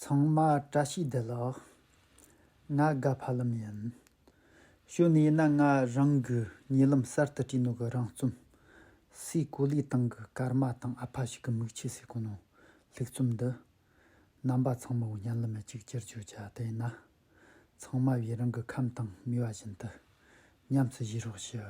ཚང་མ་བཀྲ་ཤིས་བདེ་ལགས། ང་དགའ་ཕ་ལམ་ཡིན། ཞོ་ནི་ཡིན་ན་ང་རང་གི་ཉེ་ལམ་གསར་དུ་བྲིས་ནོ་གི་རང་རྩོམ། སའི་གོ་ལའི་སྟེང་གི་སྐར་མ་དང་ཨ་ཕ་ཞིག་གི་མིག་ཆུ་སའི་གོ་ནོ། ལྷུག་རྩོམ་འདི། རྣམ་པ་ཚང་མ་བོ་ཉལ་མི་གཅིག་གྱུར་བརྗོད་བྱ་དེ་ཡིན་ན། ཚང་མ་བོའི་རང་གི་ཁམས་དང་མི་བ་བཞིན་དུ། ཉམས་སུ་བཞེས་རོགས་ཞུ།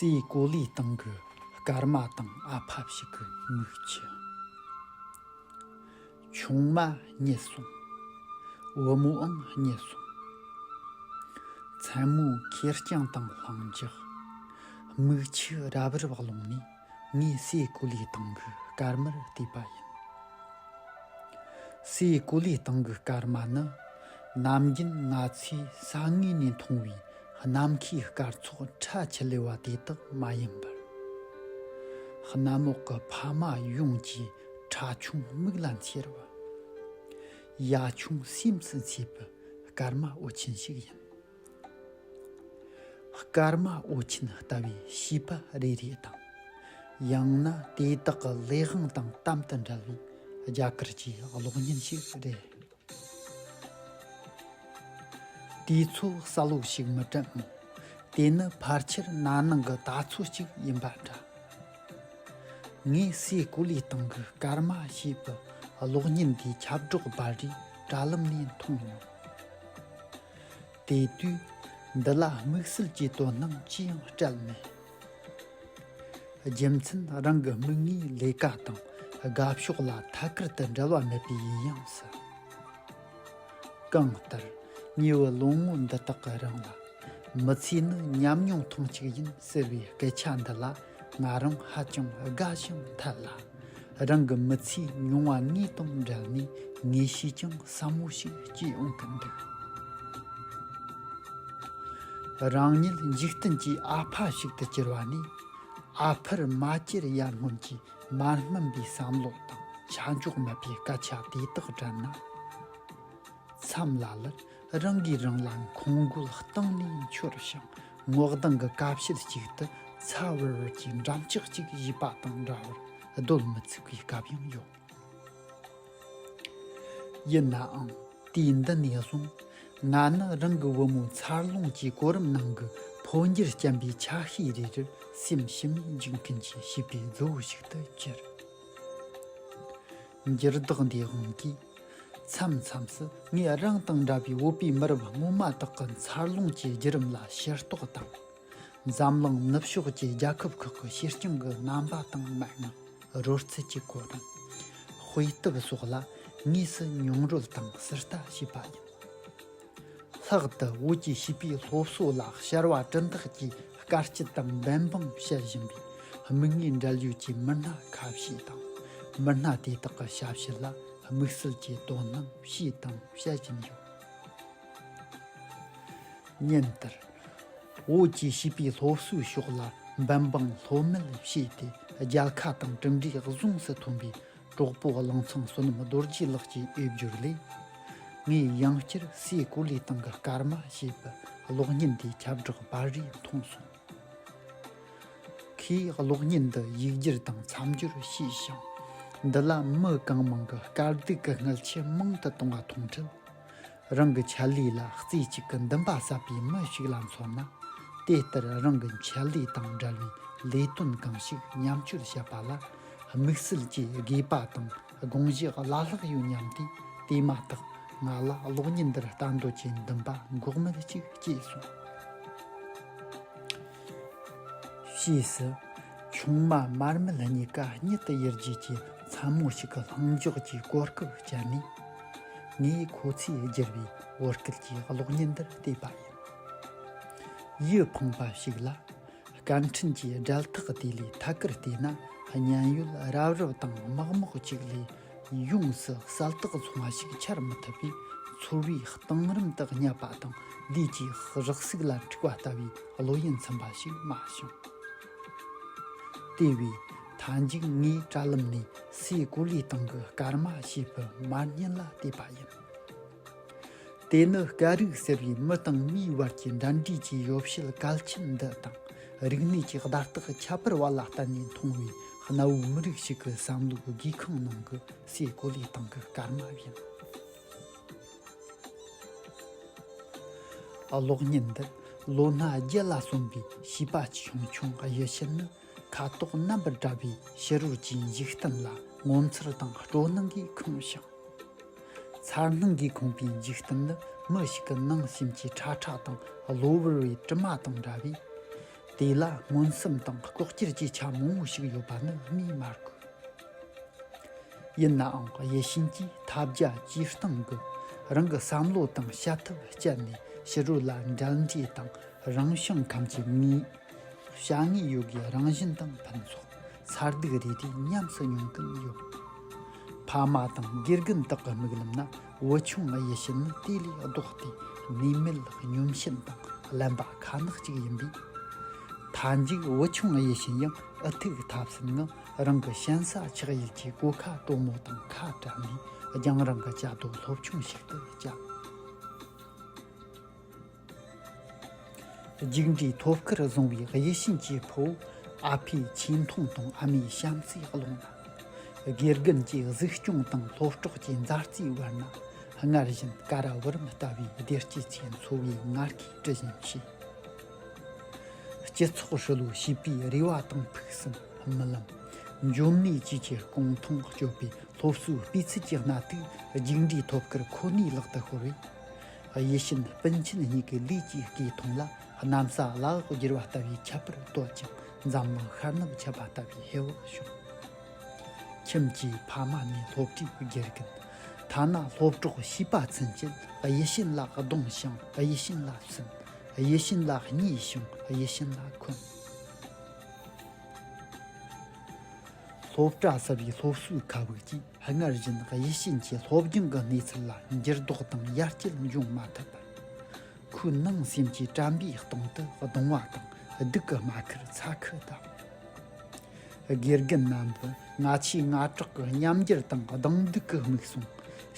སའི་གོ་ལའི་སྟེང་གི་སྐར་མ་དང་ཨ་ཕ་ཞིག་གི་མིག་ཆུ། ཆུང་མ་རྙེད་སོང། བུ་མོའང་རྙེད་སོང། མཚན་མོའི་ཁེར་རྐྱང་དང་ལྷིང་འཇགས། མིག་ཆུ་རབ་རིབ་བླངས་ནས། ངས་སའི་གོ་ལའི་སྟེང་གི་སྐར་མར་བལྟས་པ་ཡིན། སའི་གོ་ལའི་སྟེང་གི་སྐར་མ་ནི་ནམ་རྒྱུན་ང་ཚོས་ས་ངོས་ནས་མཐོང་བའི་ནམ་མཁའི་སྐར་ཚོགས་ཁྲ་ཆིལ་བ་དེ་དག་མ་ཡིན་པར། གནམ་འོག་གི་ཕ་མ་ཡོངས་ཀྱི་ཁྲ་ཆུང་མིག་ལ་འཚེར་བ། གཡའ་ཆུང་སེམས་སུ་འཚེར་བའི་སྐར་མ་འོད་ཆེན་ཞིག་ཡིན། སྐར་མ་འོད་ཆེན་ལྟ་བུའི་བྱིས་པ་རེ་རེ་དང། ཡང་ན་དེ་དག་གི་ལས་དབང་དང་གཏམ་དུ་འདྲ་བའི་རྒྱ་གར་གྱི་གློག་བརྙན་ཞིག་རེད། དེའི་ཚོད་གསལ་བོ་ཞིག་མི་དྲན་མོད། དེ་ནི་ཕལ་ཆེར་གནའ་ནང་གི་ལྟ་ཚུལ་ཅིག་ཡིན་པ་འདྲ། ངས་སའི་གོ་ལའི་སྟེང་གི་སྐར་མ་ཞེས་པའི་གློག་བརྙན་དེའི་ཁྱབ་སྒྲོག་སྦར་རིས་དྲ་ལམ་ནས་མཐོང་མྱོང། དེ་དུས་འདི་ལ་དམིགས་བསལ་གྱི་དོན་སྣང་ཅི་ཡང་སྤྲད་མེད། རྒྱུ་མཚན་རང་གི་མིག་སྔའི་ལས་ཀ་དང་དགའ་ཕྱོགས་ལ་ཐད་ཀར་དུ་འབྲེལ་བ་མེད་པས་ཡིན་ཡང་སྲིད། གང་ལྟར་ཉེ་བའི་ལོ་ངོ་འདི་དག་གི་རིང་ལ། མི་ཚེ་ནི་ཉམས་མྱོང་ཐེངས་གཅིག་ཡིན་ཟེར་བའི་སྐད་ཆ་འདི་ལ་ང་རང་ཧ་ཅང་དགའ་ཞིང་འཐད་ལ། རང་གི་མི་ཚེའི་མྱོང་བ་དངོས་དང་འབྲེལ་ནས་ངེས་ཤེས་ཅུང་ཟབ་མོ་ཞིག་སྐྱེས་ཡོང་གི་འདུག་རང་ཉིད་འཇིག་རྟེན་གྱི་ཨ་ཕ་ཞིག་ཏུ་གྱུར་བ་ནི་ཨ་ཕར་མ་གྱུར་ཡར་སྔོན་གྱི་མ་སྨིན་པའི་བསམ་བློ་དང་ཆ་འཇོག་མེད་པའི་སྐད་ཆ་དེ་དག་དྲན་ན། མཚམས་ལ་ལར་རང་གིས་རང་ལ་མཁོ་རྒུ་ལ་བཏང་ནས་འཆོར་ཞིང་ངོ་གདོང་གི་དཀའ་བཤེར་གཅིག་ཏུ་ཚ་བར་བར་གྱི་འགྲམ་ལྕག་ཅིག་བཞི་པ་དང་འདྲ་བར་སྡོད་མི་ཚུགས་པའི་སྐབས་ཡང་ཡོད། ཡིན་ནའང། དུས་འདི་ནས་བཟུང་ང་ནི་རང་གི་བུ་མོའི་འཚར་ལོངས་ཀྱི་གོ་རིམ་ནང་གི་འཕོ་འགྱུར་རྐྱེན་པའི་ཆ་ཤས་རེ་རེར་སེམས་ཞིབ་མོས་འཇུག་མཁན་གྱི་བྱིས་པའི་གཟུ་བོ་ཞིག་ཏུ་གྱུར། འགྱུར་ལྡོག་འདིའི་དབང་གིས་མཚམས་མཚམས་སུ་ངས་རང་དང་འདྲ་བའི་བོད་པའི་མི་རབས་སྔོན་མ་དག་གི་འཚར་ལོངས་ཀྱི་བརྒྱུད་རིམ་ལ་ཤེས་རྟོགས་དང། འཛམ་གླིང་ནུབ་ཕྱོགས་ཀྱི་རྒྱལ་ཁབ་ཁག་གི་ཕྱིར་འགྱངས་ཀྱི་རྣམ་པ་དང་མ་དངུལ་རོལ་རྩེད་ཀྱི་གོ་རིམ། དཔེ་དེབ་སོགས་ལ་དངོས་སུ་མྱོང་རོལ་དང་ཟུར་ལྟ་བྱས་པ་ཡིན། ལྷག་ཏུ་བོད་ཀྱི་བྱིས་པའི་སློབ་གསོ་ལ་ཕྱར་བ་གྲུ་འདེགས་ཀྱི་དཀའ་སྤྱད་དང་འབད་འབུངས་བྱེད་བཞིན་པའི་དམིགས་ངེས་འབྲེལ་ཡོད་ཀྱི་མི་སྣ་ཁ་ཤས་དང་མི་སྣ་དེ་དག་གི་ཞབས་ཕྱི་ལ་དམིགས་བསལ་གྱི་དོ་སྣང་བྱས་དང་བྱེད་བཞིན་ཡོད། ཉིན་དེར། བོད་ཀྱི་བྱིས་པའི་སློབ་གསོའི་ཕྱོགས་ལ་འབད་འབུངས་ལྷོད་མེད་བྱས་ཏེ་རྒྱལ་ཁ་དང་གྲུབ་འབྲས་གཟུངས་སུ་ཐོན་པའི་གྲོགས་པོ་གླིང་ཚང་བསོད་ནམས་རྡོ་རྗེ་ལགས་ཀྱི་དབྱེ་བསྒྱུར་ལས། ངས་ཡང་བསྐྱར་སའི་གོ་ལའི་སྟེང་གི་སྐར་མ་ཞེས་པའི་གློག་བརྙན་དེའི་ཁྱབ་བསྒྲགས་པར་རིས་མཐོང་སོང། ཁོས་གློག་བརྙན་འདི་ཡིག་བསྒྱུར་དང་མཚམས་སྦྱོར་ཤེས་ཤིང། འདི་ལ་མི་གང་མང་གི་དཀའ་སྡུག་གི་སྔལ་ཆད་མང་དུ་བཏང་བ་མཐོང་འཕྲལ། རང་གི་ཆ་ལུས་ལ་རྩེ་གཅིག་གི་འདུན་པ་ཟབ་པའི་མི་ཞིག་ལ་མཚོན་ན། དེ་ལྟར་རང་གི་ཆ་ལུས་དང་འདྲ་བའི་ལས་དོན་གང་ཞིག་མཉམ་སྤྱོད་བྱེད་པ་ལ་དམིགས་བསལ་གྱི་དགོས་པ་དང་དགོངས་གཞི་བླ་ལྷག་ཡོད་སྙམ་སྟེ་དེ་མ་ཐག་ང་ལ་གློག་བརྙན་འདིར་ལྟ་འདོད་ཀྱི་འདུན་པ་འགོག་མེད་ཅིག་སྐྱེས་སོང། ཕྱིས་སུ། ཆུང་མ་མར་མེ་གཉིས་ཀ་གཉིད་དབྱེར་རྗེས་ཀྱི་མཚན་མོ་ཞིག་ལྷིང་འཇགས་ཀྱི་གོ་སྐབས་སྤྱད་ནས། ངས་ཁོ་ཚོས་བསྒྱུར་བའི་བོད་སྐད་ཀྱི་གློག་བརྙན་འདིར་བལྟས་པ་ཡིན། ཡུལ་ཕངས་པ་ཞིག་ལ་སྐད་འཕྲིན་གྱི་སྦྲེལ་ཐག་དེ་ལས་ཐད་ཀར་བལྟས་ན་མཉན་ཡོད་རབ་རིབ་དང་མག་མོག་ཅིག་ལས་ཡོངས་སུ་གསལ་དག་ཚོང་བ་ཞིག་འཆར་མི་ཐུབ་པས་ཚོར་བའི་གཏིང་རིམ་དུ་བསྙབས་པ་དང་ལུས་ཀྱི་རགས་ཟུག་ལ་འཁྲིག་པ་ལྟ་བུའི་བློ་ཡིད་ཚིམ་པ་ཞིག་མ་བྱུང། ལྟེ་བའི་མཐའ་མཇུག་ལྔའི་དྲ་ལམ་ནི་སའི་གོ་ལའི་སྟེང་གི་སྐར་མ་ཞེས་པའི་མར་བརྙན་ལ་བལྟས་པ་ཡིན། དེ་ནི་སྐད་རིགས་ཟེར་བའི་མི་དང་མིའི་བར་གྱི་འབྲེལ་འདྲིས་ཀྱི་ཡོ་བྱད་གལ་ཆེན་འདི་དང་རིག་གནས་ཀྱི་བརྡ་རྟགས་ཁྱད་པར་བ་ལ་བརྟེན་ནས་མཐོང་བའི་གནའ་བོའི་མི་རིགས་ཤིག་གི་བསམ་བློའི་སྒེའུ་ཁུང་ནང་གི་སའི་གོ་ལའི་སྟེང་གི་སྐར་མ་ཡིན། གློག་བརྙན་འདིར་ལོ་ན་བརྒྱད་ལ་སོན་པའི་བྱིས་པ་ཆུང་ཆུང་གཡུ་ཕྱི་ནི་ཁ་དོག་རྣམ་པར་བཀྲ་བའི་ཕྱི་རོལ་གྱི་འཇིག་རྟེན་ལ་ངོ་མཚར་དང་སྤྲོ་སྣང་གིས་ཁེངས་ཤིང། མཚར་སྣང་གིས་ཁེངས་པའི་འཇིག་རྟེན་ནི་མི་ཞིག་གི་ནང་སེམས་ཀྱི་ཁྲ་ཁྲ་དང་གློ་བུར་བའི་དྲི་མ་དང་འདྲ་བས། དེ་ལ་མངོན་སུམ་དང་ལྐོག་གྱུར་གྱི་ཆ་མང་བོ་ཞིག་ཡོད་པ་ནི་སྨོས་མ་དགོས། ཡིན་ནའང་ཡེ་ཤེས་ཀྱིས་ཐབས་བརྒྱ་ཇུས་སྟོང་གིས་རང་གི་བསམ་བློ་དང་བྱ་ཐབས་སྤྱད་ནས་ཕྱི་རོལ་ལ་འགྲེལ་འདྲིས་དང་རང་བྱུང་ཁམས་ཀྱི་དངོས་བྱ་དངོས་ཡོད་ཀྱི་རང་བཞིན་དང་ཕུན་ཚོགས་མཚར་སྡུག་རེ་རེ་ཉམས་སུ་མྱོང་གིན་ཡོད། ཕ་མ་དང་དགེ་རྒན་དག་གི་མིག་ལམ་ན་བུ་ཆུང་ངུ་ཡི་ཤི་ནི་དེ་ལས་ལྡོག་སྟེ་གནས་མལ་སྙོམས་ཞེན་དང་བརླན་པ་ཁ་ནག་ཅིག་ཡིན་པས། མཐའ་མཇུག་བུ་ཆུང་ངུ་ཡི་ཤི་ཡང་ཨི་ཐུག་ཐབས་ཟིན་ངང་རང་གི་ཞེན་ས་ཆགས་ཡུལ་གྱི་གོ་ཁ་དྲོ་མོ་དང་ཁ་བྲལ་ནས་རྒྱང་རིང་གི་བྱ་རྡོ་ལྷོབ་ཆུང་ཞིག་ཏུ་བཅར། འཇིགས་འདྲའི་ཐོབ་སྐལ་བཟང་བའི་ཡིད་བཞིན་གྱི་བུ། ཨ་ཕའི་ཆེ་མཐོང་དང་ཨ་མའི་བྱམས་བརྩེའི་ཀློང་ན། དགེ་རྒན་གྱི་གཟིགས་སྐྱོང་དང་ལྷོ་བྲག་གི་མཛའ་བརྩེའི་བར་ན། སྔར་བཞིན་ཀ་ར་བུར་མི་ལྟ་བུའི་བདེ་སྐྱིད་ཅན་འཚོ་བའི་ངར་ཁའི་དྲི་བཞོན་བྱས། སྤྱི་ཚོགས་ཧྲིལ་བོ་ཞེས་པའི་རེ་བ་དང་ཕུགས་བསམ་རྨི་ལམ། འཇོན་མི་གཅིག་ཁྱེར་རྐང་ཐང་སྤྱོད་པའི་སློབ་གསོའི་སྤུས་ཚད་ཀྱི་ནད་དུག་འཇིགས་འདྲའི་ཐོབ་སྐལ་ཁོ་ནའི་ལག་ཏུ་ཤོར་བས། ཡིད་བཞིན་སྤུན་ཆེན་གཉིས་ཀྱི་ལུས་ཀྱི་སྐུའི་མཐོང་ལ་གནམ་ས་བླ་འོག་བསྒྱུར་བ་ལྟ་བུའི་ཁྱད་པར་བསྟོད་ཅིང་འཛམ་གླིང་ཤར་ནུབ་ཁྱབ་པ་ལྟ་བུའི་ཧེ་བག་ཞུ། ཁྱིམ་གྱི་ཕ་མ་ནི་སློབ་གྲྭའི་དགེ་རྒན། ཐ་ན་སློབ་གྲོགས་ཤིས་པ་འཚེམ་ཅན་ཡིད་བཞིན་ལ་གདུང་ཞིང་ཡིད་བཞིན་ལ་བསུན། ཡིད་བཞིན་ལ་སྙེས་ཤིང་ཡིད་བཞིན་ལ་འཁོན། སློབ་གྲྭ་གསར་བའི་སློབ་གསོའི་མཁའ་དབུགས་ཀྱིས་སྔར་བཞིན་དབྱི་ཞིན་གྱི་སློབ་སྦྱོང་གི་གནས་ཚུལ་ལ་འགྱུར་ལྡོག་དང་ཡར་སྐྱེད་འབྱུང་མ་ཐུབ་པར། ཁོའི་ནང་སེམས་ཀྱི་དྲན་པའི་སྟེང་དུ་གདུང་བ་དང་སྡུག་གི་རྨ་ཁར་ཚ་ཁུལ་དང། དགེ་རྒན་རྣམས་ཀྱི་སྔ་ཕྱིའི་སྔ་དྲགས་ཀྱི་ཉམས་འགྱུར་དང་གདེང་སྡུག་གི་མིག་ཟུང།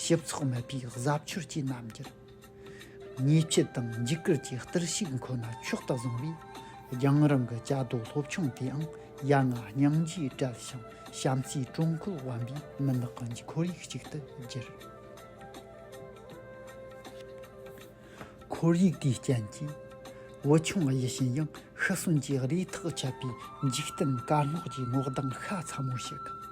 ཞིབ་ཚགས་མེད་པའི་གཟབ་མཆོར་གྱི་རྣམ་འགྱུར། ཉེས་ཆད་དང་འཇིགས་སྐུལ་གྱི་བསྟར་ཤུགས་ཁོ་ན་ཕྱོགས་མཐའ་བཟང་བས་རྒྱང་རིང་གི་བཅའ་སྡོད་སློབ་ཆུང་དེའང་ཡ་ང་སྙིང་རྗེའི་དྲལ་ཞིང་བྱམས་བརྩེའི་དྲུང་འཁོལ་དབེན་པའི་མི་ནག་གི་འགྱིག་ཁོར་ཡུག་ཅིག་ཏུ་གྱུར། ཁོར་ཡུག་དེའི་རྐྱེན་གྱིས་བུ་ཆུང་ཡེ་ཤེས་ཡང་ཤི་གསོན་གྱི་རེ་ཐག་ཆད་པའི་འཇིག་རྟེན་དཀར་ནག་གི་སྔོག་གདངས་ཤ་ཚ་མོ་ཞིག་གམ།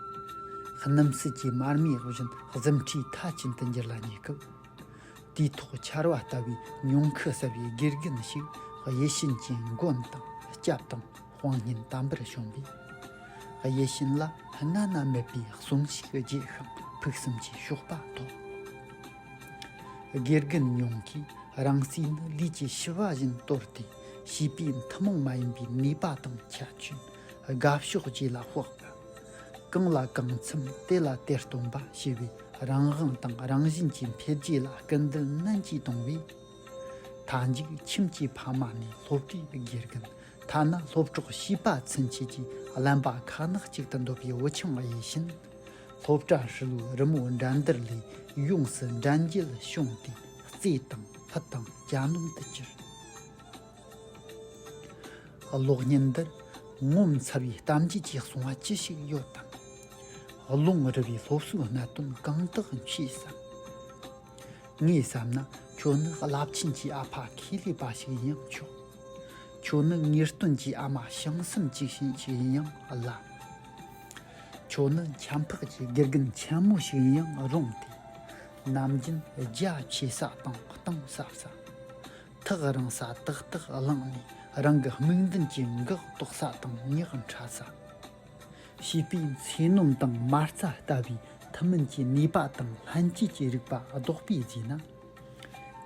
སྣུམ་བསིལ་གྱི་མར་མེ་བཞིན་གཟིམ་ཁྲིའི་མཐའ་ཅན་དུ་འགྱུར་ལ་ཉེ་སྐབས། དུས་ཐོག་ཆར་བ་ལྟ་བུའི་ཉུང་ཤས་སེལ་བའི་དགེ་རྒན་ཞིག་དབྱི་ཤིན་ཅེན་མགོན་དང་སྐྱབས་དང་དཔང་ཉིན་དམ་པར་བྱོན་པས། དབྱི་ཤིན་ལ་སྔ་ན་མེད་པའི་གསུང་ཞིག་རྗེས་ཤིང་ཕུགས་བསམ་གྱི་གཤོག་པ་ཐོགས། དགེ་རྒན་ཉུང་གིས་རང་སྲས་ནི་ལུས་ཀྱི་ཤི་བ་བཞིན་སྟོར་ཏེ་ཤི་བའི་ཐུན་མོང་མ་ཡིན་པའི་ནུས་པ་དང་ཁྱད་ཆོས་དགའ་ཕྱོགས་གཅིག་ལ་དཔག་པ། གང་ལ་གང་འཚམ་དེ་ལ་དེར་སྟོན་པ་ཞེས་པའི་རང་དབང་དང་རང་བཞིན་གྱི་འཕེལ་རྒྱས་ལ་སྐུལ་འདེད་ནན་གྱིས་བཏང་བས། མཐའ་མཇུག་ཁྱིམ་གྱི་ཕ་མ་ནས་སློབ་གྲྭའི་དགེ་རྒན་ཐ་ན་སློབ་གྲོགས་བྱིས་པ་ཚུན་ཆད་ཀྱི་བརླན་པ་ཁ་ནག་གཅིག་ཏུ་འདོད་པའི་བུ་ཆུང་ཡིད་བཞིན་སློབ་གྲྭ་ཧྲིལ་བོའི་རི་མོ་འགྲན་བསྡུར་ལས་ཡོངས་སུ་འགྲན་རྒྱུལ་བྱུང་སྟེ་རྩེ་དང་ལྷུ་དང་གྱ་ནོམ་དུ་གྱུར། གློག་བརྙན་འདིར་ངོ་མཚར་བའི་གཏམ་རྒྱུད་ཀྱི་གསང་བ་ཅི་ཞིག་ཡོད་དམ། ཀློང་རི་བའི་སློབ་གསོའི་གནད་དོན་གང་དག་མཆིས་སམ། ངས་བསམ་ན་ཁྱོད་ནི་རླབས་ཆེན་གྱི་ཨ་ཕ་ཁེ་ལས་པ་ཞིག་ཡིན་ཡང་ཆོག། ཁྱོད་ནི་ངེས་སྟོན་གྱི་ཨ་མ་བྱང་སེམས་གཅིག་ཞེན་ཞིག་ཡིན་ཡང་བླ། ཁྱོད་ནི་འཁྱམ་འཕགས་ཀྱི་དགེ་རྒན་ཆེན་མོ་ཞིག་ཡིན་ཡང་རུང་སྟེ། ནམ་རྒྱུན་རྒྱ་ཆེ་ས་དང་གཏིང་ཟབ་ས། ཐག་རིང་ས་ཏག་ཏག་བླངས་ནས་རང་གི་དམིགས་འདུན་གྱི་འགག་ལྡོག་ས་དང་ཉག་ཕྲ་ས། བྱིས་པའི་ཚེ་ནོམ་དང་མ་རྩ་ལྟ་བུའི་ཐུན་མིན་གྱི་ནུས་པ་དང་ལྷན་སྐྱེས་ཀྱི་རིག་པ་ལྡོག་པའི་རྗེས་ན།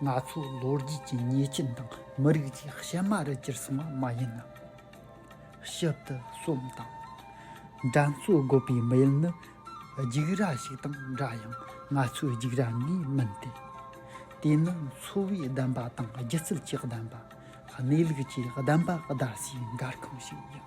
ང་ཚོ་ལོ་རྒྱུས་ཀྱི་ཉེས་ཅན་དང་མི་རིགས་ཀྱི་གཤེད་མ་རུ་གྱུར་སོང་བ་མ་ཡིན་ནམ། ཞིབ་ཏུ་གསུམ་དང། འགྲན་རྩོད་དགོས་པའི་མི་ཡུལ་ནི་རྒྱུགས་ར་ཞིག་དང་འདྲ་ཡང་ང་ཚོའི་རྒྱུགས་ར་ནི་མིན་ཏེ། དེ་ནི་འཚོ་བའི་གདམས་པ་དང་སྒྱུ་རྩལ་གྱི་གདམས་པ། གནས་ལུགས་ཀྱི་གདམས་པ་བརྡར་བྱའི་འགར་ཁང་ཞིག་ཡིན།